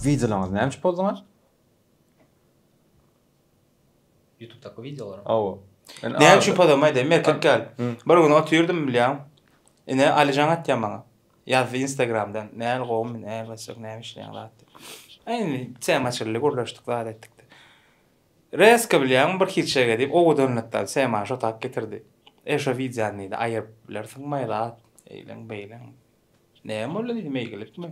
Videolaryňyz näme üçin pozdyňyz? YouTube'daky videolar. Awa. Näme üçin pozdyňyz? Aýdaýyn, erkek gel. Bir gün otyrdym bilýän. Ine Alijan atýan maňa. Ýazdy instagramdan näl gowmy näl gaçak näme işleýäň zat diýip. Aý indi tema açyldy gürleşdik zat etdik. Reska bilýäňmi bir hiçege diýip owadanlykdan temany şo tak getirdi. E şo wideony diýdi aýyryp bilersiňmi aý zat eýleň beýleň. Näme boldy diýdim eýgilikmi.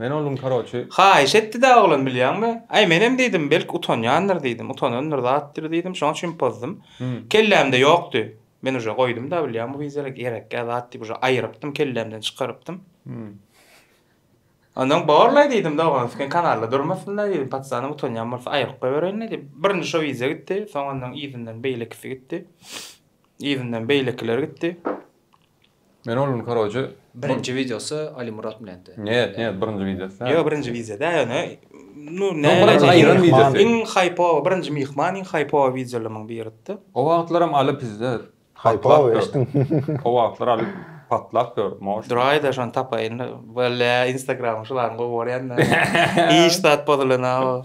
Men onuň karoçi. Haýyş etdi-dä oglan bilýäňmi? Aý menem diýdim, belki utanýandyr diýdim, utanandyr zatdyr diýdim, şoň üçin pozdum. Kellämde ýokdy. Men uje goýdum-da bilýäň bu wizere gerekgä zat diýip uje aýyrypdym, kellämden çykarypdym. Ondan borlaý diýdim-de oglan üstki kanalda durmasyn-da diýdim, patyşanyň utanýan bolsa aýryp goýbereýin-le diýip. Birinji şo wize gitdi, soň ondan yzyndan beýlekisi gitdi. Yzyndan beýlekiler gitdi. Men ol gün koroje Birinji wideosy Alimurat bilendi. Njet njet birinji wideosy däl. Ýok birinji wideo däl ony nu näme birinji aýran wideosy. Iň haýpowy birinji myhman iň haýpowy wideolamyň biridi. O wagtlaram Aly bizde Haýpowy eşdiň. O wagtlar Aly patlap ýör moş. Duraýda şony tapaýyn wella instagramyň şularyň gowy bolýanda hiç zat bozulanaw.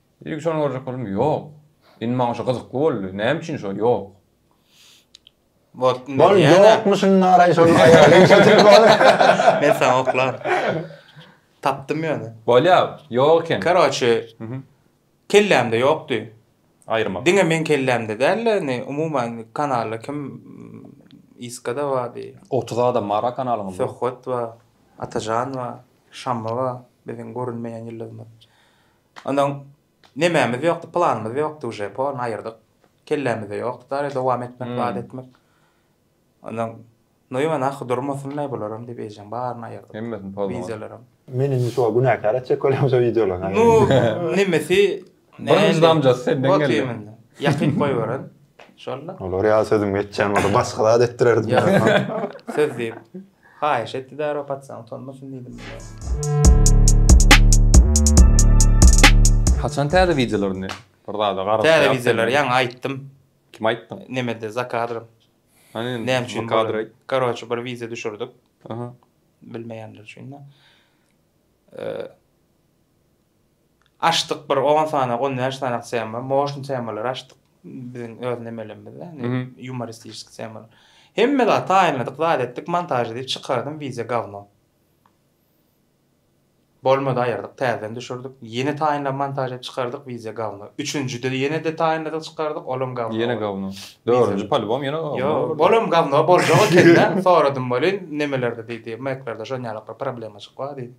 Ilki şony görjek boldum, ýok. Indi maňa şu gyzykly boldy, näme üçin şo ýok? Bolup indi Bol diýýän-ä. ýokmuşyn naraý şonuň aýaly işe turmaz. Men saňa oklaryn. Tapdym ýöne. Bolýa, ýok eken. Karoçe, kellämde ýokdy. Aýyrmak. Diňe meň kellämde däl-de, indi umuman kanalda kim Iska-da bardy. Otuz adam bar-a kanalyňyzda. Söhbet bar, Atajan bar, Şamma bar, biziň görünmeýän ýyldyzymyz. Ondan nemämiz ýokdy, planymyz ýokdy uje, poruny aýyrdyk. Kellämizde ýokdy dary dowam etmek, zat etmek. Ondan Noýman ahy durmasynlaý bularam diýip eýjäň baryny aýyrdyk. Hemmesini pozlaň. Wideolaram. Meni indi şuňa günäkär etjek welin şu wideolaň. Nu nemesi Birinji damjasy senden geldi. Ýakyp goýberen. Şol-la. Olar ýaly sözüm geçýän bolsa başga zat etdirerdim. Ýa söz diýip. Haýyş etdi däri okatsaň utanmasyn diýdim menä. Haçan täze wideolaryny bir zada garap Täze ýaz wideolary sen. ýaňy aýtdym. Kime aýtdyň? Nemede za kadrym. Hany Näme üçin bu kadry aýt. Karoçe bir wideo düşürdik. Aha. Bilmeýänler üçin-de. Eee, Açdyk bir on sanak, on bäş sanak tema, motion temalary açdyk. Biziň öz nemelerimize, ýumoristiçki temalar. Hemme zat taýynladyk, zat etdik, montaž edip çykardym, wideo gawno. Bolmady aýyrdyk, täzeden düşürdik. Ýene taýynlap montaž edip çykardyk, wideo gawno. Üçünjide ýene-de taýynladyk, çykardyk, olam gawno. Ýene gawno. Dördünji polubam ýene gawno. Ýok, bolam gawno, boljak ekeni-dä. Soradym welin, nemelerde diýdi, meklerde şonýalyklar problemajyk bar diýdi.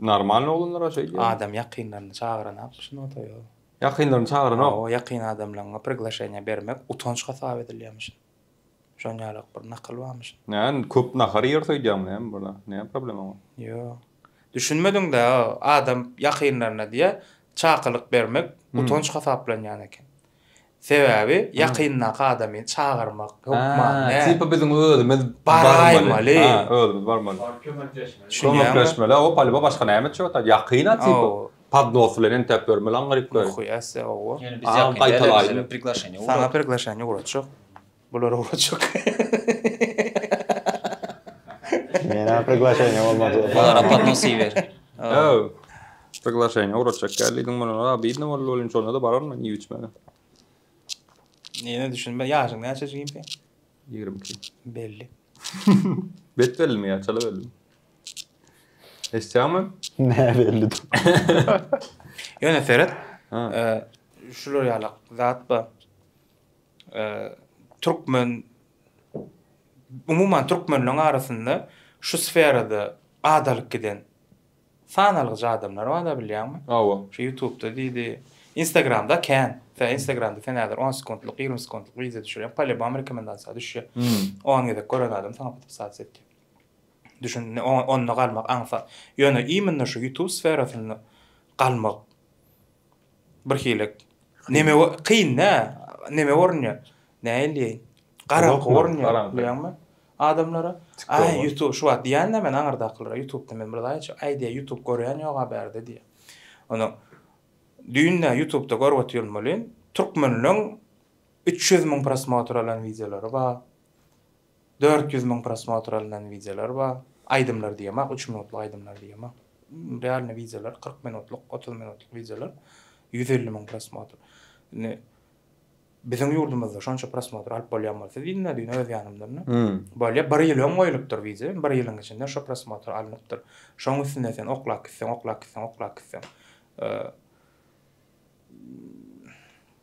Normalny oglanlara şeýdýär. Adam ýakynlaryny çagyranok bu sungat oýa. Ýakynlaryny çagyranok. Hawa ýakyn adamlaňňa priglaşeniýa bermek utanç hasap edilýämiş. Şon ýalak bir nakyl barmyş. Näme köp nahar iýer söýdýäňmi näme bula näme problemaň bar. Ýok. Düşünmediňdä adam ýakynlaryna diýä çakylyk bermek utanç hasaplanýan eken. Sebäbi ýakyndaky adamy çagyrmak hökman näme? Tipa biziň özümiz barmaly. Ha, özümiz barmaly. Baryp kömekleşmeli. Kömekleşmeli, oba palyba başga näme etjek ata? Ýakyn-a tipa. Podnos bilen entäp bermeli aňryk. Nahuyasy, oba. Ýöne biz ýakyn däl-le, bize priglaşeniýe ugrat. Saňa priglaşeniýe ugratjak. Bular owaçyk. Menä priglaşeniýa bolmady. Bulara podnosi ber. Öw. Priglaşeniýa ugraçak gel diýdim bulara. A biýdne boldy welin şonda-da baran men iýip içmeli. Ýene düşünme. Ýaşyň näçe jigimpe? Ýigrimi iki. Belli. Bet bellimi ýa çala bellimi? Eşitýäňmi? Nä belli dur. Ýöne seret. Eee şular ýalak zat bar. türkmen umuman türkmenleň arasynda şu sferada adalyk giden sanalgyja adamlar bar-da bilýäňmi? Hawa. Şu ýutubda diýdi, Instagramda kän. Tä Instagramda sen häzir on sekuntlyk, ýigrimi sekuntlyk wideo düşürýäň, polýubam rekomendasiýa düşýär. Hmm. On gezek gören adam saňa podpisasiýa etýär. Düşün, ne- o- onda galmak aňsat. Ýöne imенно şu ýutub sferasynda galmak Bir hili neme kyn da neme görünýä nähili diýeýin garaňky görünýä bilýäňmi adamlara aý ýutub şu wagt diýän da men aňyrdakylara ýutubda men bir zat aýtjak aý diýä ýutub görýän ýoga bärde diýä onsoň düýn da ýutubda görüp otyrmolin türkmenleň üç ýüz müň prosmotr alan wideolary bar Dört ýüz müň prosmotr alnan wideolar bar. Aýdymlar diýemok, üç minutlyk aýdymlar diýemok. Realny wideolar, kyrk minutlyk, otuz minutlyk wideolar ýüz elli müň prosmotr. Indi biziň ýurdumyzda şonça prosmotr alyp bolýan bolsa diýdim da düýn öz ýanymdan da. Bolýa, bir ýyl öň goýlupdyr wideo, bir ýylyň içinde şo prosmotr alnypdyr. Şoň üstünde sen oklap gitseň, oklap gitseň, oklap gitseň.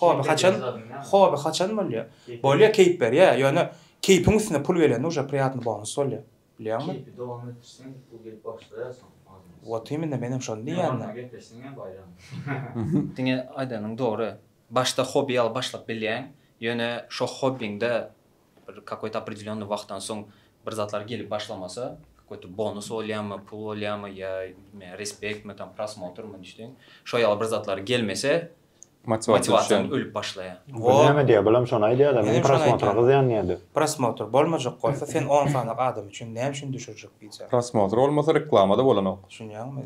Hoby haçan Hoby haçan bolýa? Bolýa keýp berýä ýöne keýpiň üstüne pul gelende uje priýatny bonus bolýa. Bilýäňmi? Keýpi dowam etdirseň pul gelip başlaýarsoň azmaz. Wot immine menem şony diýýän da. Gepleşseň hem baýram. Diňe aýdanyň dogry. Başda hobi ýaly başlap bilýäň, ýöne şo hobiňde bir kakoýda opredelennyý wagtdan soň bir zatlar gelip başlamasa, kakoýda bonus bolýamy, pul bolýamy ýa bilmeýän respektmi tam prosmotrmy nişde şo ýaly bir zatlar gelmese Motiwasiýadan ölüp başlaýar. Bu näme diýýär? Bulam şony aýdýar-da, meniň prosmotr gyzýan diýýär-de. Prosmotr bolmajak bolsa, sen on sany adam üçin näme üçin düşürjek diýýär. Prosmotr bolmasa, reklama-da bolanok. Düşünýäňmi?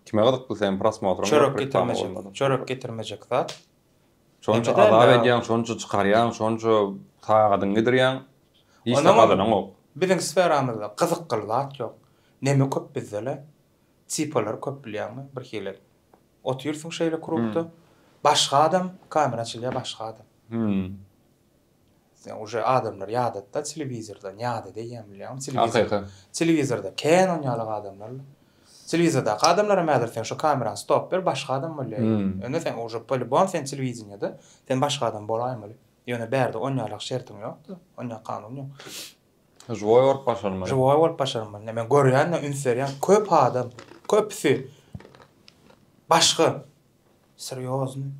Kime gyzykly seniň prosmotryň? Çörek getirmejek. Çörek getirmejek zat. Şonça azap edýäň, şonça çykarýaň, şonça tagadyňy gidirýäň. Hiç zat gazananok. Biziň sferamyzda gyzykly zat ýok. Neme köp bizde-le? Typolary köp bilýäňmi bir hili otyrsyň şeýle krugda başga adam kamera açylýa başga adam sen uje adamlary ýadatda telewizordan ýadada eýýäm bilýäňmi telewizor telewizorda kenon ýalak adamlar telewizordaky adamlaram häzir sen şu kamerany stop ber başga adam bolýa indi sen uje po lýubom sen telewideniýede sen başga adam bolaýmaly ýöne bärde on ýalak şertiň ýokda onýa kanun ýok Žwoý bolup başarmaly. Žwoý bolup başarmaly. Ine men görýän-de, üns berýän, köp adam, köpüsi başga serýozny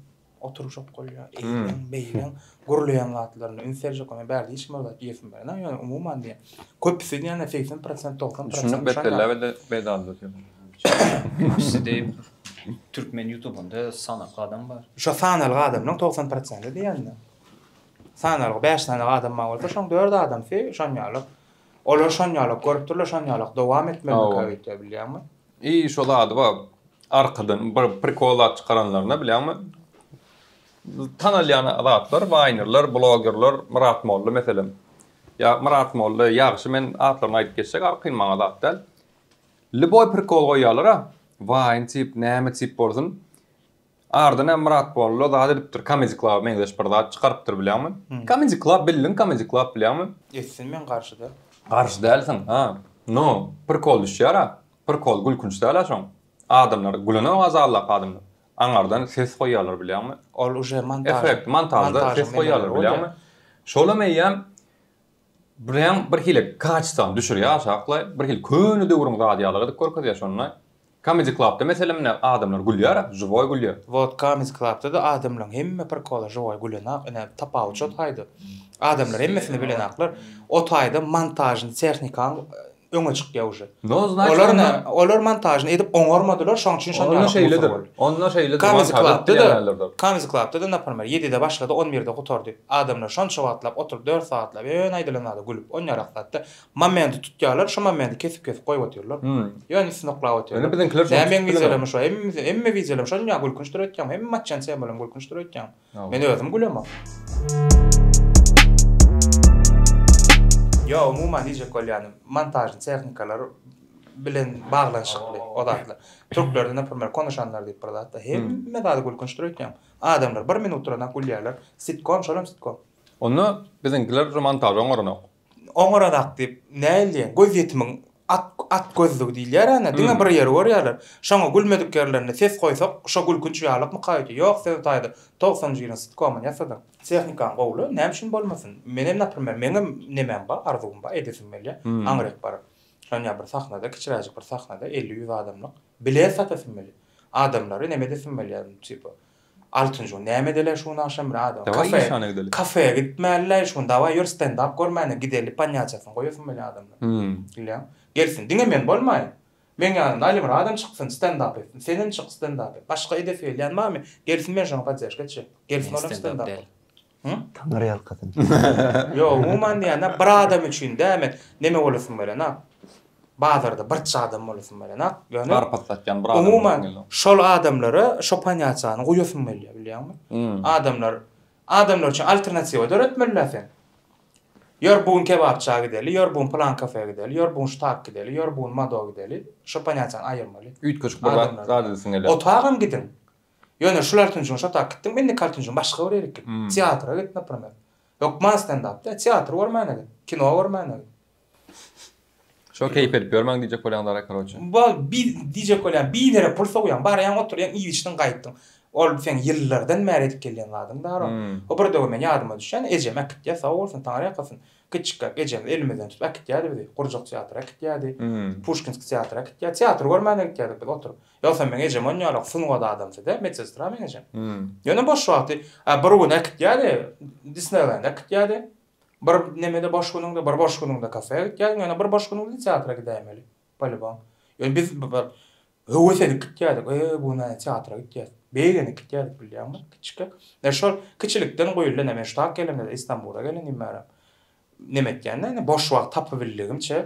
oturyşok bolýar. Eýleň, beýleň gürleýän zatlaryna üns berjek bolýar. Bärde hiç kim bir zat diýesim gelmän, ýöne umuman diýýän. Köpüsi diýende segsen prosent, togsan prosent. Düşündik bet belläp elde peýdaly zat. Köpüsi diýip, türkmen ýutubynda sanakly adam bar. Şo sanalgy adamlaryň togsan prosenti diýýän-de. Sanarlyk bäş sany adam bar bolsa, şoň dört adamsy şonýalak. Olar şonýalak görüpdirler, şonýalak dowam etmelikä öýtýär, bilýäňmi? I şo zady bar, arkadan bir prikol zat çykaranlaryna, bilýäňmi, tanalýan zatlar, waýnerler, blogerler, Myrat molla, meselem, ýa Myrat molla, ýagşy, men atlaryny aýdyp geçjek, arkaýyn, maňa zat däl, lýuboý prikol goýýarlar-a, waýn tip, näme tip bolsun, Arda nä myrat bollo zat edipdir comedy club meňzeş bir zat çykarypdyr bilýäňmi comedy club bildiň comedy club bilýäňmi. Etsin men garşy däl. Garşy dälsiň ha no prikol düşýära prikol gülkünç dälä şoň adamlar gülenok azallap adamlar aňardan ses goýýarlar bilýäňmi Ol uje montažda efekt montažda ses goýýarlar bilýäňmi şolam eýýäm Bularem bir hili kaçsany düşürýär aşaklaý, bir hili köne döwrüň zady ýaly gyzyk görkezýär şonda. Comedy Club-da meselem ine adamlar gülýär, žiwoý gülýär. Wot Comedy Club-da-da adamlaryň hemme prikoly žiwoý gülenok, ine tapawut şo taýda. Adamlar hemmesini bilenoklar. O taýda montažny tehnikanyň öňe çykýa uje. No znaçt onda. Olar ne olar montažny edip oňarmadylar şoň üçin şon ýaly gusur boldy. Onda şeýle de montaž edip diýýärlerdir. Kamizi klapda da naprmer ýedide başlady on birde gutardy adamlar şonça wagtlap oturyp dört sagatlap ýöne aýdylan zada gülüp on ýarak zatda momenti tutýarlar şu momenti kesip kesip goýup otyrlar ýöne üstüni oklap otyrlar. Ýöne biziňkiler şony tutup bilmeýär. Näme wideolarmy şo hemme wideolarmy şonça gülkünç durup etýäňmi hemme matçany sen bolan gülkünç durup etýäňmi. Men özüm gülemok. Ýok, umuman diýjek bolýanym, montažly tehnikalar bilen baglanyşykly o zatlar. Türklerde, naprimer, konuşanlar diýip bir zat bar. Hemme zady gülkünçdir öýtýän. Adamlar bir minut duranok gülýärler. Sitkom, şolam sitkom. Onda biziňkiler şu montažy oňaranok. Oňarazak diýip, nähili diýen, gözýetimiň at, at gözlügi diýilýär-ä nä, diňe bir ýeri görýärler. Şoňa gülmedik ýerlerinde ses goýsak, şo gülkünç ýalykmyka öýde? Ýok, sözi taýda, togsanjy ýylyň sitkomyny ýasadym. Tehnikaň gowuly, näme üçin bolmasyn? Menem, naprimer, meňem nemem bar, arzuwym bar, edesim gelýär. Aňryk baryp, şony ýa bir sahnada, kiçiräjik bir sahnada, elli-ýüz adamlyk, bilet satasym gelýär. Adamlary neme edesim gelýär, tipa, Altynjy gün näme edeli şu gün agşam rado Daway kafe işana gideli. kafeýe gitmälilaý şu gün daway ýör stendap görmäne gideli panýaçasyny goýasym gelýä adamlar Hümm. bilýäň gelsin diňe men bolmaýyn meň ýanymda Alim radom çyksyn stendap etsin senem çyk stendap et başga edesi gelýän barmy gelsin men şoňa podderşka etjek gelsin Men olam stendap stendap däl. Taňyr ýalkasyn. Ýok, umuman diýende bir adam üçin dämi, neme bolasym gelenok. Bazarda birçi adam bolasym gelenok. Ýöne Garpyz satýan bir adam. Umuman şol adamlara şo ponýasiýany guýasym gelýär, bilýäňmi? Adamlar, adamlar üçin alternatiwa döretmeli-dä sen. Ýör bu gün kebapçyja gideli, ýör bu gün pylan kafeýa gideli, ýör bu gün ştak gideli, ýör bu gün mado gideli. Şo ponýasiýany aýyrmaly. Üýtgeşik bir zat, zat edesiň gelýär. Otagam gidiň. Ýöne şular tünjüň şo tak gitdiňmi indikal tünjüň başga bir ýerik git. Teatra git napromer. Hökman stendap de, teatr görmäne git, kino görmäne git. Şo keýp edip ýörmäň diýjek bolýan zara karoçe. Bol bi diýjek bolýan bidere pul sowýaň barýaň oturýaň iýip içdiň gaýtdyň. Ol seň ýyllardan bäri edip gelýän zadyň daro. O bir döwür men ýadyma düşýän ejem äkitýä sag bolsun taňry ýakasyn. Kiçikräk ejemiz elimizden tutup äkitýädi bizi. Gurjak teatra äkitýädi. Puşkinski teatra äkitýä. Teatr görmäne gitýädik biz oturyp. Ýogsam meň ejem onýalak sungat adamsyda, medsestra meň ejem. Ýöne boş wagty, a bir gün äkitýärdi, Disneýlende äkitýärdi. Bir nemede boş günüňde, bir boş günüňde kafeä gitýärdiň, ýöne bir boş günüňde teatra gidäýmeli, polibom. Ýöne biz bir höwes edip gitýärdik, e, bu gün näme teatra gitýäs. Begenip gitýärdik, bilýäňmi, kiçikkä. Ýa şol kiçilikden guýuldy, ine men şu tak gelenimde, Istanbula gelenimde, neme etýändigini, boş wagt tapybildigimçe.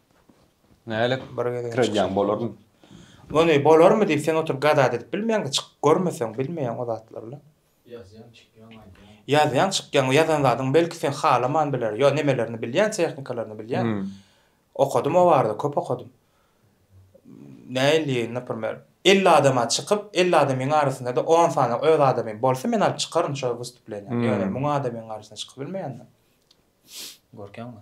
Nälik bir gezek etýäň bolarmy? Ony bolarmy diýip sen oturyp gazat edip bilmeýäňdä çykyp görmeseň bilmeýäň o zatlaryla. Ýazýaň çykýaň aýdýaň. Ýazýaň çykýaň ýazan zadyň belki sen halaman biler ýa nemelerini bilýän tehnikalaryny bilýän. Okadym o barada köp okadym. Näilli naprimer elli adama çykyp elli adamyň arasynada on sany öz adamym bolsa men alyp çykaryn şo wystuplenýa ýöne müň adamyň garasyna çykyp bilmeýändä. Görkeňmi?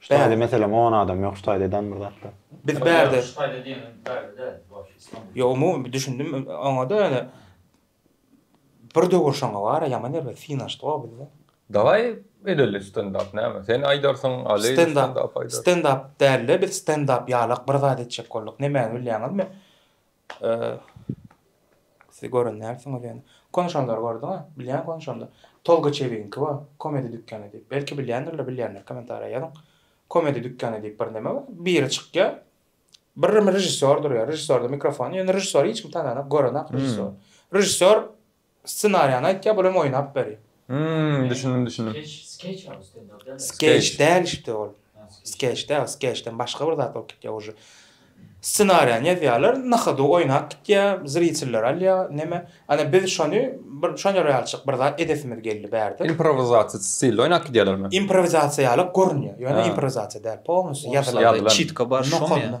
Ştaýda meselem on adam ýok ştaýda edan bir zatlar. Biz bärde. Ýok ştaýda diýeniň bärde däl wapşe islamda. Ýok umumy düşündim oňada ýöne bir döwür şoňa bara ýaman erbet syn açdy gowy bizde. Daway edeli stendap näme sen aýdarsyň Aly stendap aýdar. Stendap dälde biz stendap ýalak bir zat etjek bolduk nemäni bilýäňizmi Siz gören dälsiňiz ýöne. Konuşanlary gördüňiz? Bilýän konuşanlar. Tolga Çebigiňki bar. Komedi dükany diýip. Belki bilýändirler, bilýänler kommentariýa ýazyň. Komedi dükany diýip bir neme bar. Biri çykýar. Bir režissýor durýar. Režissýorda mikrofon. Ýöne režissýory hiç kim tananok, görenok režissýory. Režissýor Scenariýany aýtýa bul hem oýnap beri. Hmmm düşündim düşündim. Skeç däl işte ol. Skeç däl skeçden başga bir zat bolup gitýä uje. Scenariýany ýazýalar na hodu oýnap gitýä zritelleri alýa neme ana biz şony bir şony realçyk bir zat edesimiz geldi bärde. Improwizasiýa stilde oýnap gidýalermi. Improwizasiýa ýaly görünýä ýöne improwizasiýa däl polnusy ýazylan. Çitka bar şoň ýa.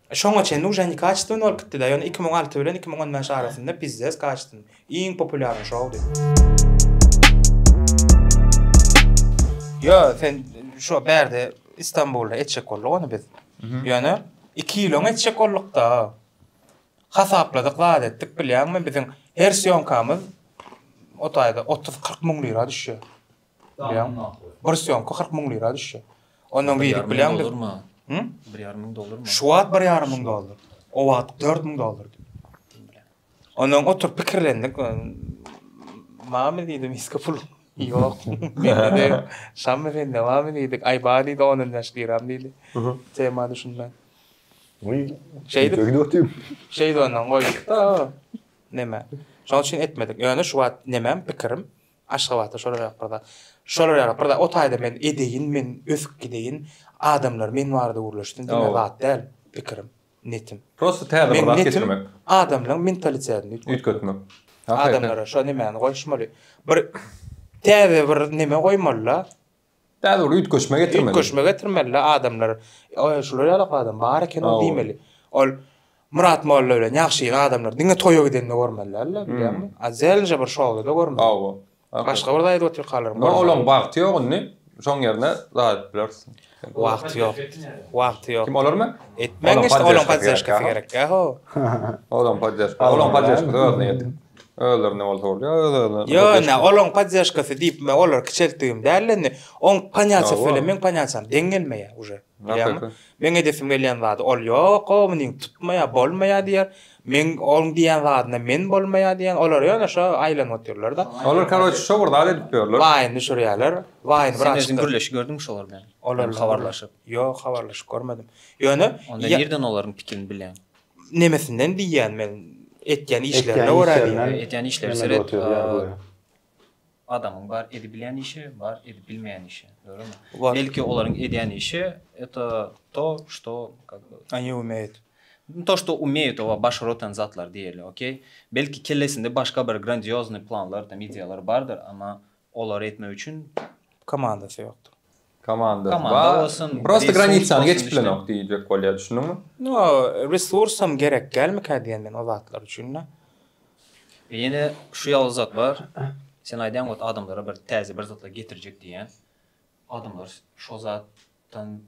Şoňa çenli uje ne kaçestwony bolup gitdida ýöne iki müň alty bilen iki müň on bäş arasynda pizzes kaçestwony iň populýarny şowdy. Ýo sen şo bärde Istanbulda etjek bolduk ony biz. Ýöne iki ýyl öň etjek boldukda. Hasapladyk zat etdik bilýäňmi biziň her sýomkamyz o taýda 30-40 müň lira düşýär. Bilýäňmi? Bir sýomka kyrk müň lira düşýär. Ondan gidip bilýäňmi? Hı? Bir ýarym müň dollarmy? Şu wagt bir ýarym müň dollar. O wagt dört müň dollardy. Ondan oturyp pikirlendik. Mama diýdim, hiç pul ýok. Şam efendi dowam edýdik. Aý bar diýdi, on on bäş liram diýdi. Tema düşünmän. Oý, şeýdip gidip otyp. Şeýdip ondan goýduk-da. Näme? Şonuň üçin etmedik. Ýöne şu wagt nämem pikirim, Aşgabatda şolar ýok bir zat. Şolar ýok bir zat. O taýda men edeýin, men ösüp gideýin. Adamlar men barada gürleşsin diýen zat däl pikirim, netim. Prosta täze bir zat getirmek. Adamlaryň mentalitetini üýtgetmek. Adamlara şo nemäni goýuşmaly. Bir täze bir neme goýmaly-la. Däli bir üýtgeşme getirmeli. Üýtgeşme getirmelida adamlar. Oýa şular ýalak adam bar eken ol diýmeli. Ol Myrat molla bilen ýagşyýyl adamlar diňe toýa gidende görmelidirler bilýäňmi? A zelnje bir şowlada görmeli. Hawa. Başga bir zaýat otykalary. Nä olaň wagty ýok indi. Şoň ýerine zaýat bilersiň. Wagty ýok. Wagty ýok. Kim olarmy? Etmäň işte olaň poddeşkasy gerek. Ýa-ho. Olaň poddeşkasy. Olaň poddeşkasy özüne ýetik. Özlerine bolsa bolýa, öz-özüne. Ýöne olaň poddežkasy diýip men olary kiçeltdigim däl indi. Oň panyatsyny söyle meň panyatsyny deň gelmeýä uje. Bilýäňmi? Meň edesim gelýän zady ol ýok, o munyň tutmaýa, bolmaýa diýer. Meň oň diýen zadyna men bolmaýa diýen. Olar ýöne şo aýlanyp otyrlar-da. Olar karoç şo bir zat edip ýörler. Waýn düşürýärler. Waýn bir açyk. Sen gürleşip gördüňmi şolar bilen? Olar habarlaşyp. Ýok, habarlaşyp görmedim. Ýöne onda nirden olaryň pikirini bilýäň? Nemesinden diýýän men etýän işlerine görä diýýän. Etýän işleri seret adamyň bar edip bilýän işi bar edip bilmeýän işi dogrymy? Belki olaryň edýän işi eto to şto kak by Aňi umeýt. To şto umeýt oba baş rotan zatlar diýeli okey belki kellesinde başga bir grandýoznýy planlar tam ideýalar bardyr amma Olary etmek üçin. Komandasy ýokdur. Komandasy bar. Komanda bolsun. Prosta granitsany geçip bilenok diýjek bolýar. Düşündiňmi? No, resursam gerek dälmikä diýen men o zatlar üçin-de. Ýene şu ýaly zat bar. Sen aýdýaň ot adamlara bir täze bir zatlar getirjek diýýän. Adamlar şo zatdan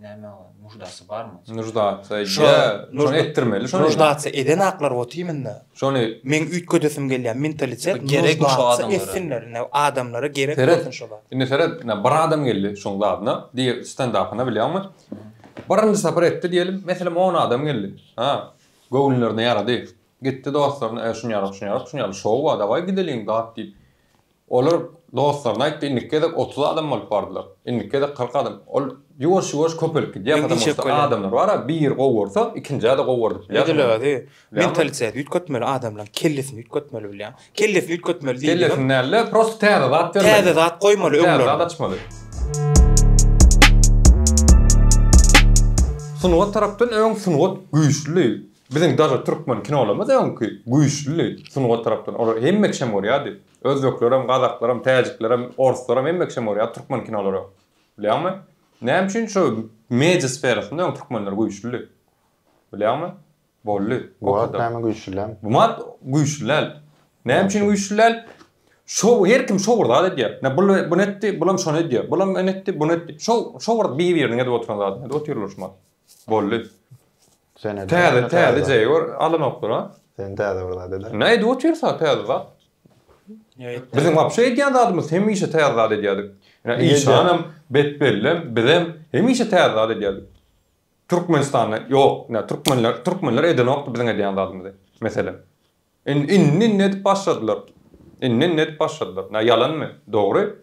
Näme ol? Nuždasy barmy? Nuždasy ýa, şony etdirmeli şony. Nuždasy eden aklar ot iýminde. Şony meň üýtgedesim gelýär, mentalitet gerek bu adamlara. Etsinler, ine adamlara gerek bolsun şo zat. Indi seret, ine bir adam geldi şoň zadyna, diýe standapyna bilýäňmi? Birinji sapar etdi diýelim, meselem on adam geldi. Ha, göwünlerine ýarady. Gitdi dostlaryna, e şuny ýalat, şuny ýalat, şuny ýalat, şow bar, dawaý gideliň, dat diýip. Olar dostlaryna aýtdy, indiki gezek otuz adam bolup bardylar. Indiki gezek kyrk adam. Ol ýuwaş-ýuwaş köpelip gidýär, Meňzeş bolup galyar. Adamlar bar-a, biri gowarsa, ikinjä-de gowardyp bilýärsiň. Edil özi. Mentalitet üýtgetmeli adamlaryň kellesini üýtgetmeli bilýäň. Kellesini üýtgetmeli diýdigim. Kellesini däl-de, prosta täze zat bermeli. Täze zat goýmaly öňlerine. Täze zat açmaly. Sungat tarapdan öň sungat güýçli. Biziň dagy türkmen kinolarymyz öňki güýçlüdi sungat tarapdan olar hemme kişem görýärdi özbeklerem gazaklarem täjiklerem orslarem hemme kişem görýärdi türkmen kinolary bilýäňmi näme üçin şu media sferasynda öň türkmenler güýçlüdi bilýäňmi boldy bu wagt näme güýçli dälmi bu wagt güýçli däl näme üçin güýçli däl şou her kim şou bir zat edýär ne bul bunu etdi bulam şony edýär bulam ony etdi buny etdi şou şou bir bir biriniň edip oturan zadyny edip otyrlar şu wagt boldy. Täze täze jeýor alanoklar a. Sen täze bir zat edäň. Näe edip otyrsa täze zat. Biziň wapşe edýän zadymyz hemişe täze zat edýärdik. Işanam, betbellem, bizem hemişe täze zat edýärdik. Türkmenistanda ýok, türkmenler türkmenler edenokdy biziň edýän zadymyzy meselem. Indi, indi edip başladylar. Indi, indi edip başladylar. Nä, ýalanmy? Dogry.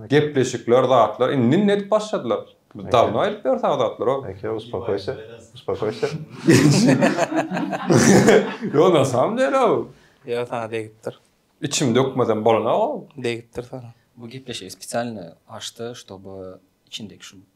Gepleşikler, zatlar, indi, indi edip başladylar. Biz dawno aýdyp ýörüs a zatlar-ow. Eke, uspokoýsa, uspokoýsa. Ýok, na samom dele-ow. Ýa, saňa degipdir. Içimi dökmesem bolanok-ow. Degipdir saňa. Bu gepleşigi spesialno açdy, ştoby içindeki şu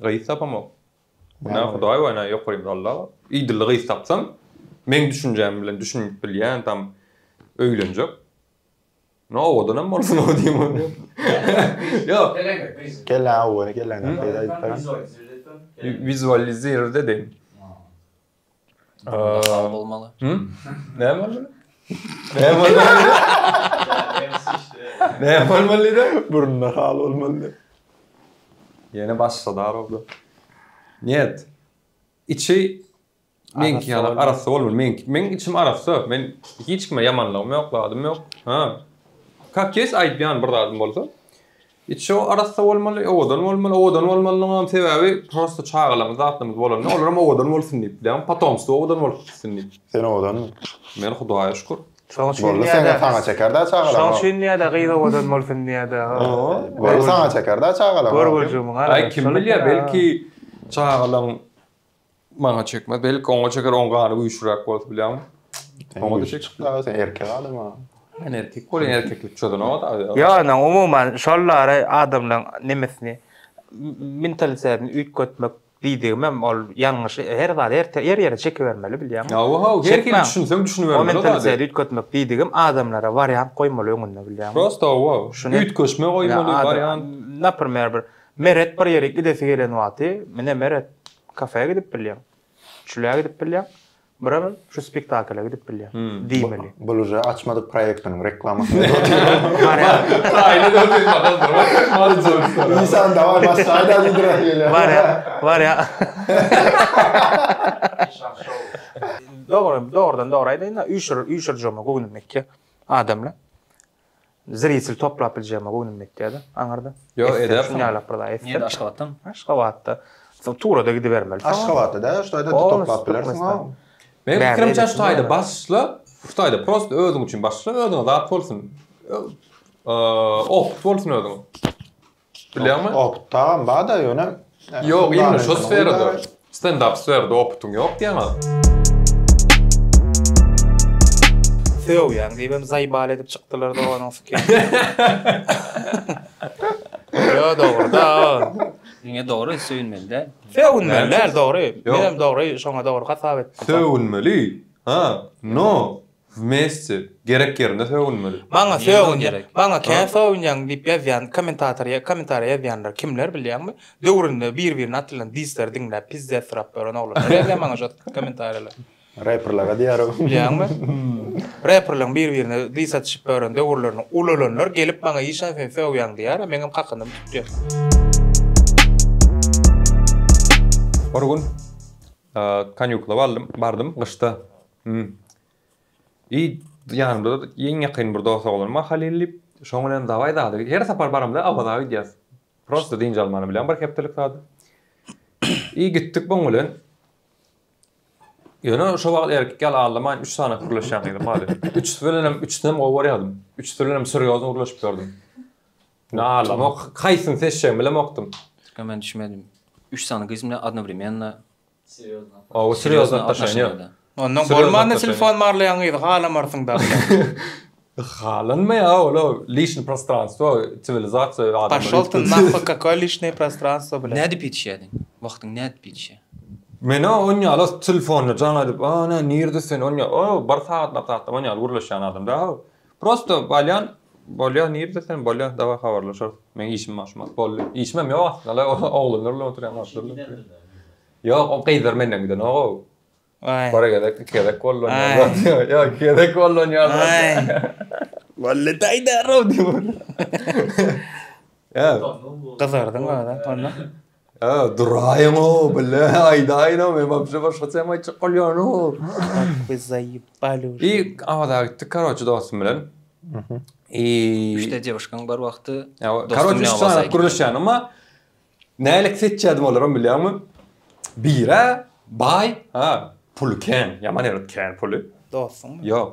Gyz tapamok. Günä Hudaý we ene ýokarymda Alla bar. Idilli gyz tapsam, meň düşünjäm bilen düşünip bilýän tam öýlenjek. Ine owadanam bolsun o diýen bolýar. Ýok. Geleňdir gyz. Geleň, owany geleňdir gyz aýdyp beren. Wizualizirde deň. Sag bolmaly. Näme bolmaly? Näme bolmaly? Näme bolmaly da? Burunda hal bolmaly. Ýene başga dar boldu. Niyet. Içi meňki ýaly arassa bolmaly. Meň meň içim arassa. Men hiç kime ýamanlygym ýok, zadym ýok. Ha. Kak kes aýtýan bir zadym bolsa. Içi arassa bolmaly, owadan bolmaly. Owadan bolmalynyňam sebäbi prosta çagalarymyz, zatlarymyz bolanda olaram owadan bolsun diýip bilen, potomstwo owadan bolup gitsin diýip. Sen owadanmy? Men Hudaýa şükür. Şoň üçin Boldy diýýä-de. seňe, saňa çeker-dä çagalar. Şoň üçin diýýä-de, gyz owadan bolsun diýýä-de. Boldy saňa çeker-dä çagalar. Görgüljigimiň Aý, kim bilýär, belki çagalaň Maňa çekme. Belki oňa çeker, oň gany güýçlüräk bolsa bilýäň. Oňa da çek. Çykda sen erkek adam ha. Men erkek bolýan erkeklik çözen o da. Ýogny umuman şolary adamlaryň nemesini mentalitetini üýtgetmek diýdigimem ol ýalňyş her zat her ýere çekibermeli bilýäňmi. Hawa hawa her kim düşünseň düşünibermeli. O mentalitet üýtgetmek diýdigim adamlara wariant goýmaly öňünde bilýäňmi. Prosta hawa üýtgeşme goýmaly wariant. Naprmer bir Meret bir ýere gidesi gelen wagty, Mine, Meret, kafä gidip bilýäň, çüle gidip bilýäň, birem şu spektakla gidip bilýäň diýmeli. Bul uje açmadyk proýektiniň reklamasyny edip otyr. Barýar. Taýyna dört ýüz manat aldyr. Isan dawaý başlaýda diýdiräk gelýär. Barýar, barýar. Işan şou. Dogry, dogrudan dogry aýdaýyn-da, üýşür, üýşürjegimi göwnüme etýär adamlar. Zrýetel toplap biljegime göwnüm ýetýär-de, aňyrda. Ýok, edersiň. Şuny ýaylap bir zat etdim. Nirede, Aşgabatdamy? Aşgabatda. Soň Tura-da gidibermeli. Aşgabatda däl, şu taýda toplap bilersiň, ha. Meniň pikirimçe, şu taýda başla, şu taýda prosta özüň üçin başla, özüňe zat bolsun. Opyt bolsun özüňe. Tutup bilýäňmi? Oputdagam bar-da, ýöne... Ýok, imni şo sferada. Stendap sferada oputyň ýok diýýäň-a? Söýýän diýibem zaýbal edip çykdylar doganyň syky. Ýo dogryda. Diňe dogry söýünmeli däl. Söýünmeli däl dogry. Menem dogry şoňa dogry hasap etdim. Söýünmeli. Ha, no. Wmestie, gerek ýerinde sögünmeli. Maňa sögünýä maňa kän sögünýäň diýip ýazýan komentatory ýa komentariýa ýazýanlar kimler bilýäňmi döwründe bir birine atylan disleri diňläp pizzet syrap ýören oglanlar ýazýa maňa şo komentariýalary. Reperlere diýýäro. Bilýäňmi? Reperleň bir birine dis atyşyp ýören döwürlerini ulalanlar gelip maňa işan sen sögýäň diýýär a meňem kakandym tutýa. Bir gün kanýukla baldym bardym gyşda Hum. Iý, ýanymda iň ýakyn bir dos oglan bar Halil diýip. Şoň bilen dawaý zady. Her sapar baramda Awaza gidýäs. Prosta dynç almany bilýän bir hepdelik zady. Iý, gitdik muň bilen. Ýöne şo wagt erkek ýaly aldamaýyn, üç sany gürleşýän gyzym bar edi. Üçüsi bilenem, üçüsinem gowy görýärdim. Üçüsi bilenem serýozny gürleşip ýördüm. Ýöne aldamok. Haýsyny seçjegimi bilemokdym. Türkmen men düşmedim. Üç sany gyz bilen odnowremenno. Oba serýozny atnaşany ýok. Ondan bolmanda telefon barlaýan gyzy halamarsyň da. Halanmy ýa ol lişni prostranstwo siwilizasiýa adamlar. Paşol ty nahwy kakoý lişni prostranstwo bilen. Nädip ýetişýädiň? Wagtyň nädip ýetişýä? Menä on ýaly telefonda jaň edip, a nä nirde sen on ýaly o bir sagatlap-sagatlap on ýaly gürleşýän adam däl. Prosto bolýan bolýa nirde sen bolýa daway habarlaşarys meň işim bar şumat boldy işimem ýok aslynda oglanlar bilen oturýan wagtlary ýok o gyzlar menden gidenogou bir gezek iki gezek gollanýarlar ýok iki gezek gollanýarlar Wally taýdarow diýip otyrlar ýa gyzardyň aga onda Ä, duraýyň-ow, bile aýdaýyn-ow, men wapşe başgaça hem aýtjak bolýan-ow. Ak we zaýyp baluş. I Awaza gitdik, karoçi, dostum bilen. Mhm. I Üçde dewuşkaň bar wagty. Ä, dostum karoçi, bilen üç Awaza sany gitdim. gürleşýän, emma nälik seçýärdim olaram bilýäňmi? Biri-ä baý, ha, puly kän, ýaman erit kän puly. Dostuňmy? Ýok.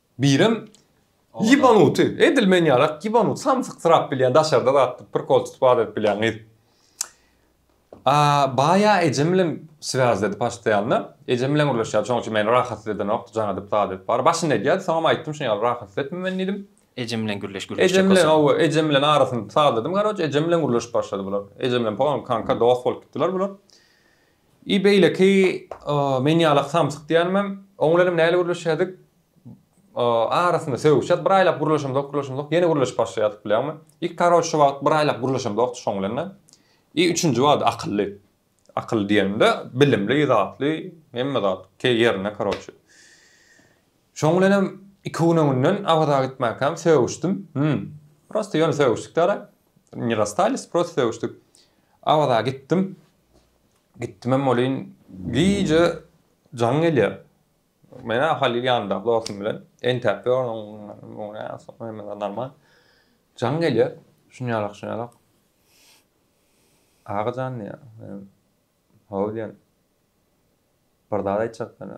Birem ýybanuty, edil men ýalak ýybanut, samsyksyrap bilýän, daşarda zat tutup, prikol tutup az edip bilýän gyz. Baýa ejem bilen swaýzledi paştaýanda. Ejem bilen gürleşýärdi, şonuň üçin meni rahatsyz edenokdy, jaň edip, zat edip bary. Başynda edýärdi, soňam aýtdym, şuny ýaly rahatsyz etme meni diýdim. Ejem bilen gürleş, gürleş. Ejem bilen, hawa, ejem bilen arasyny sazladym, garoç, ejem bilen gürleşip başlady bular. Ejem bilen polny kanka, dost bolup gitdiler bular. I beýleki men ýalak samsyk diýänemem, oň bilenem näle gürleşýädik, arasynda sögüşýäs, bir aýlap gürleşemzok, gürleşemzok, ýene gürleşip başlaýardyk bilýäňmi. Ilk karoç şu wagt bir aýlap gürleşemzokdy şoň bilen-de. I üçünji wagt akylly, akylly diýenimde bilimli zatly, hemme zat ýerinde karoç. Şoň bilenem iki gün öňünden Awaza gitmänkäm sögüşdim, hum, prosta ýöne sögüşdik-dä-da, ne rastались, prosta sögüşdik. Awaza gitdim, Gitdimem welin, gije jaň gelýär. Men-ä Halyl ýanyndaky dostum bilen entäp ýörün, hemmesi normal. Jaň gelýär, şunýalak, şunýalak. Aga jan diýýär. Menem, Hawa diýýän. Bir zat aýtjak sene.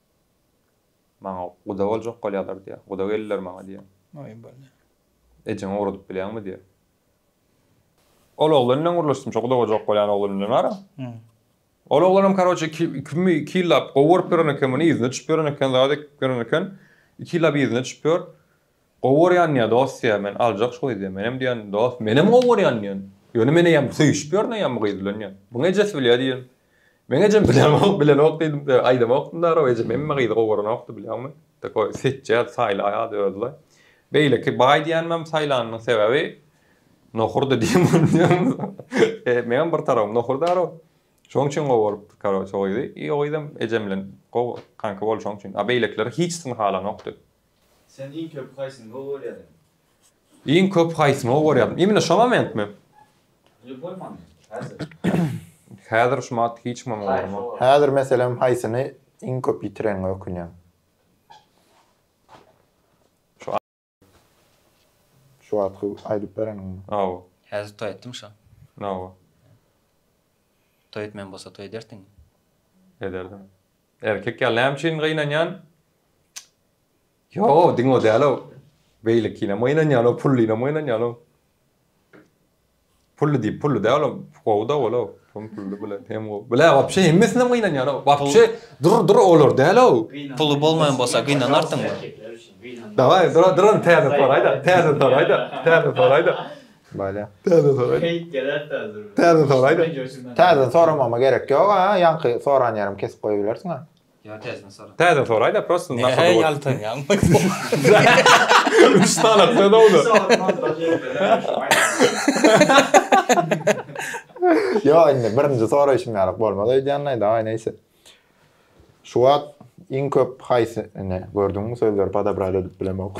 Maňa guda boljak bolýalar diýýär. Guda geldiler maňa diýýär. Aý bole. Ejeňe ugradyp bilýäňmi diýýär. Ol oglan bilen gürleşdim, şo guda boljak bolýan oglan bilen wara. Ol oglanam karoçe iki iki ýyllap gowy görüp ýören eken muny, yzyna düşüp ýören eken, zady görüp ýören eken. Iki ýyllap yzyna düşüp ýör. Gowy görýän diýýä dost diýýä men aljak şu gyzy diýýä menem diýýän dost menem gowy görýän diýýän ýöne men eýýäm söýüşip ýörün eýýäm bu gyz bilen diýýän muny ejesi bilýä diýýän meň ejem bilýänok bilenok diýdim aýdamokdym daragam ejem hemme gyzy gowy görenokdy bilýäňmi takoý seçýädi saýlaýady özüle beýleki baý diýänimem saýlanynyň sebäbi nohurdy diýdim meňem bir tarabym nohur daragam şoň üçin gowy görüpdi karoçe o gyzy i o gyzam ejem bilen gowy kanka boldy şoň üçin a beýlekileri hiç syn halanokdy. Sen iň köp haýsyny gowy görýädiň? Iň köp haýsyny gowy görýädim? Imine şo momentmi? Ýok bolmany. Häzir. Häzir şu mat hiç kimem gorma. Häzir meselem haýsyny iň köp ýitirenňe ökünýäň? Şu a. Şu wagtky aýdyp bereniňmi? Hawa. Häzir toý etdim şo. Hawa. Toý etmeýän bolsa toý ederdiňmi? Ederdim. Erkek ýaly näme üçin gynanýan? Ýok, diňe o däl-ow. Beýlekinem gynanýan-ow, pullynam gynanýan-ow. Pully diýip, pully däl-ow. Gowy-da ol-ow. Hem pully bilen, hem gowy. Bilä, wapşe hemmesinden gynanýan-ow. Wapşe dur, dur, olar däl-ow. Puly bolmaýan bolsa gynanarsyňmy? Daway, dur, dur, täze soraý-da, täze soraý-da, täze soraý-da. Bale. Täzeden soraýyn. Keýp geler täzeden. Täzeden soraýyn. Täzeden soramama gerek ýok a, ýaňky soran ýerim kesip goýubilersiň a. Ýa täzeden sora. Täzeden soraýda prosta nasada bolup. Nähä ýaltanýaň. Üç sany atda dowda. Ýok indi birinji soraýşym ýalyk bolmaz öýdýänleý daway neýse. Şu wagt iň köp haýsyny gördüňmi sözleri podobrali edip bilemok.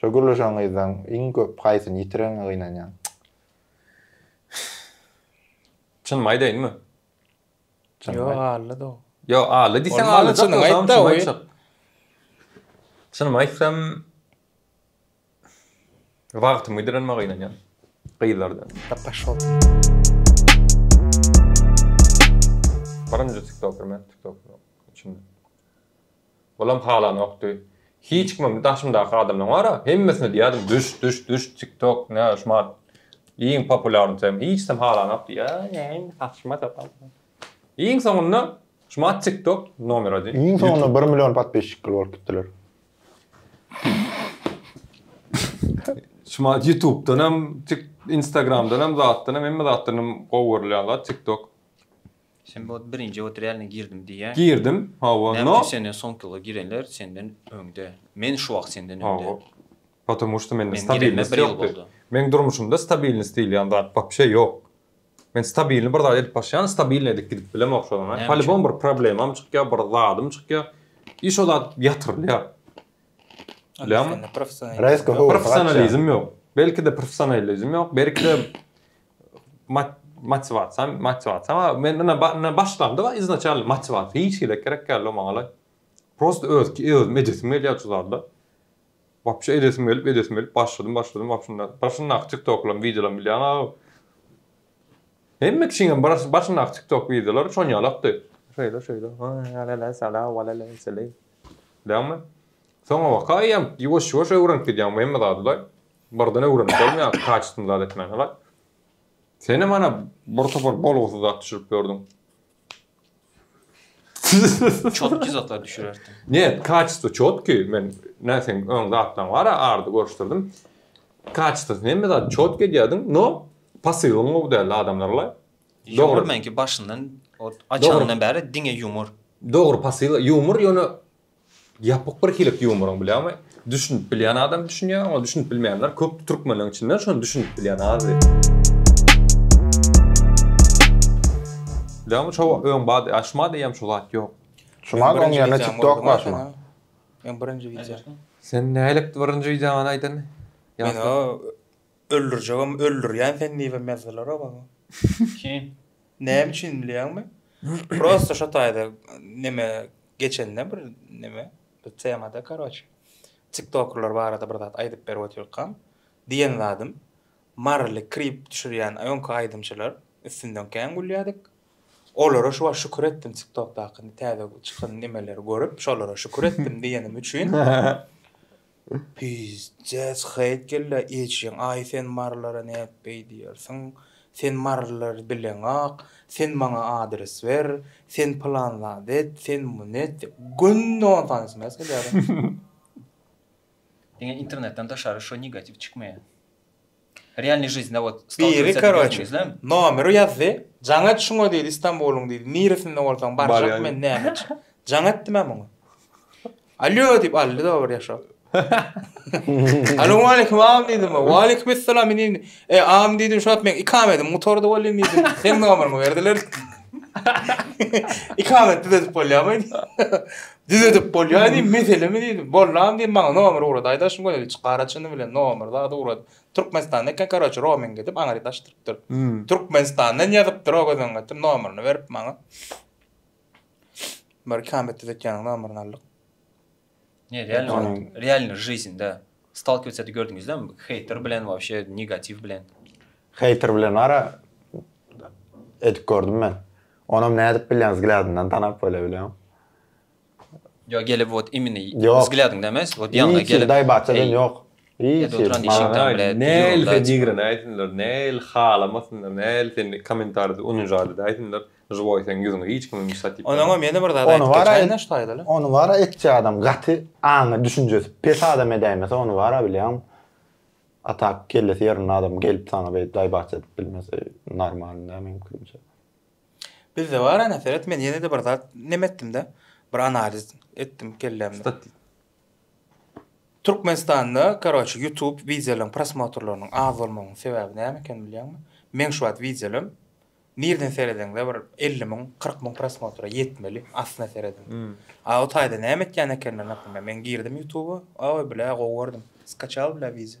Şo gürleşen gyzdan iň köp haýsyny ýitireniňe gynanýaň? Çynymy aýdaýynmy? Çynymy aýt. Ýok, Ally dog. Ýok, Ally diýseň Ally çynymy aýt da, çynymy aýtjak. Çynymy aýtsam, wagtymy ýitirenime gynanýan gyzlardan. Da paşol. Birinji tiktoker men, tiktoker üçin. Olam halanokdy. Hiç kim hem daşymdaky adamlaryň bar-a, hemmesine diýýärdim, Düş, düş, düş, TikTok, nä, şumat iň populýarny tem. Hiç kim halanokdy. Ýa, näme, saçma sapan. Iň soňunda şumat TikTok nomer adi. Iň soňunda bir million podpisçikli bolup gitdiler. Şumat Ýutubdan hem, Tik, Instagramdan hem, zatdan hem, hemme zatdan hem gowy görülýän zat TikTok. Sen bot birinji otrýalnyý girdim diýýäň. Girdim, hawa, no. Näme üçin senden soňkylar girenler senden öňde? Men şu wagt senden öňde. Hawa. Potomu şto mende stabilnost ýokdy. Meň durmuşymda stabilnost diýilýän zat wapşe ýok. Men stabilny bir zat edip başýan, stabilny edip gidip bilemok şodan gaýy. Polibom bir problemam çykýa, bir zadym çykýa i şo zat ýatyrylýa. Bilýäňmi? Professionalizm ýok. Belki-de professionalizm ýok, belki-de Motiwasiýa, motiwasiýa, ha men ine ine başlandyk-a iznaçalnyý motiwasiýa hiç hili gerek däl o maňalaý. Prosta özki özümi edesim gelýär şu zada. Wapşe edesim gelip edesim gelip başladym başladym wapşnda başyndaky tiktoklarym wideolarymy bilýäň-aw. Hemme kişiniňem baş başyndaky tiktok wideolary şon ýalakdy. Şeýle şeýle lalala sala walala seleý. Bilýäňmi? Soňabaka eýýäm ýuwaş ýuwaş öwrenip gidýäň bu hemme zady-da. Birden öwrenip bolmaýar kaçysyny zat etmäni gaý. Senem ana bir topar bolgusyz zat düşürip ýördüň. Çotki zatlar düşürerdim. Net kaçysyz çotki men nä seň öň zatlaň bar a ardy görüşdirdim. Kaçysyz hemme zat çotki edýärdiň no pasylyň gowy däldi adamlar laý. Dogry meňki başyndan ot açandan bäri diňe ýumor. Dogry pasyl ýumor ýöne Ýapyk bir hili ýumoryň bilýäňmi? Düşünip bilýän adam düşünýär, oňa düşünip bilmeýänler köp türkmenleň içinde şony düşünip bilýän azdy. Dämi şo öň bady aşma diýýäm şo zat ýok. Şumal oň ýerine tiktok başma. Men birinji wideo. Sen nälik birinji wideony aýdan? Men o Öldürjegem öldürýän sen diýibem ýazdylarok aga. Kim? Näme üçin bilýäňmi? Prosta şo taýda neme geçende bir neme bir temada karoçe. Tiktokerler barada bir zat aýdyp berip otyrkam diýen zadym Marly krip düşürýän öňki aýdymçylar üstünden kän gülýädik. Olara şu wagt şükür etdim tiktokdaky täze çykan nemeleri görüp şolara şükür etdim diýenim üçin. Pyýjjäç Hyýt geldi eşigiň Aý sen marylara nädip beýdýärsiň? Sen marylary bileňok, sen maňa adres ber, sen pylan zat et, sen muny et diýip günde on sany sms edýärin. Diňe internetden daşary şo negatiw çykmaýa. Realny žizne wot Biri karoçi nomeri ýazdy jaň et şuňa diýdi istanbulyň diýdi niresinde bolsaň barjak men näme üçin jaň etdim men muňa alýo diýip aldy dobry ýaşap Alowmalikim am diýdim walikim essalam indi e am diýdim şuwagt men ikam edim gutardy bolýan diýdim sen nomeryňy berdiler ikam etdi edip bolýamy Düzedip bolýar diýdim, meselemi diýdim. Bollam diýdim, maňa nomer ugrat, aýdaşym gözel çykara çyny bilen nomer zat ugrat. Türkmenistanda eken, karoçe, roming edip aňryýet açdyrypdyr. Türkmenistandan ýazypdyr o gözüň getir, nomerini berip maňa. Bir ikamet düzetýäniň nomerini aldyk. Ne realnyň realnyň жизньde stalkivetsedi gördüňizlermi? Heýter bilen wapşe negatiw bilen. Heýter bilen ara edip gördüm men. Onam nädip bilýäň zglýadyndan tanap bole bilýäň. Ýo gelip ot imini zglýadyň demes ot ýaňa gelip. Hiç daý baçadan ýok. Hiç hiç. Näl fedigrene aýsynlar näl halamasynlar näl sen komentarda unujadada aýsynlar žwoý seň ýüzüňe hiç kimiň bir satip. Onaňam ýene bir zat aýdyp geçäýin näş taýdaly. Ony bara etjä adam gaty aňy düşünjesi pes adam edäýmese ony bara bilýäň a tak kellesi ýerinde adam gelip saňa beýdip daý baça edip bilmese normalny däl meň pikirimçe. Bizde bar ana seret men ýene-de bir zat neme etdim-de, bir analiz etdim kellämde. Türkmenistanda karoçe YouTube wideolaryň prosmotrlarynyň az bolmagynyň sebäbi näme ekeni bilýäňmi? Meň şu wagt wideolarym nireden seredeňde bir elli müň, kyrk müň prosmotra ýetmeli, aslyna serediň. A o taýda näme etýän ekenler, naprimýer, men girdim YouTube-a, aw, bilä, gowy gördüm, skaçal, bilä, wideo.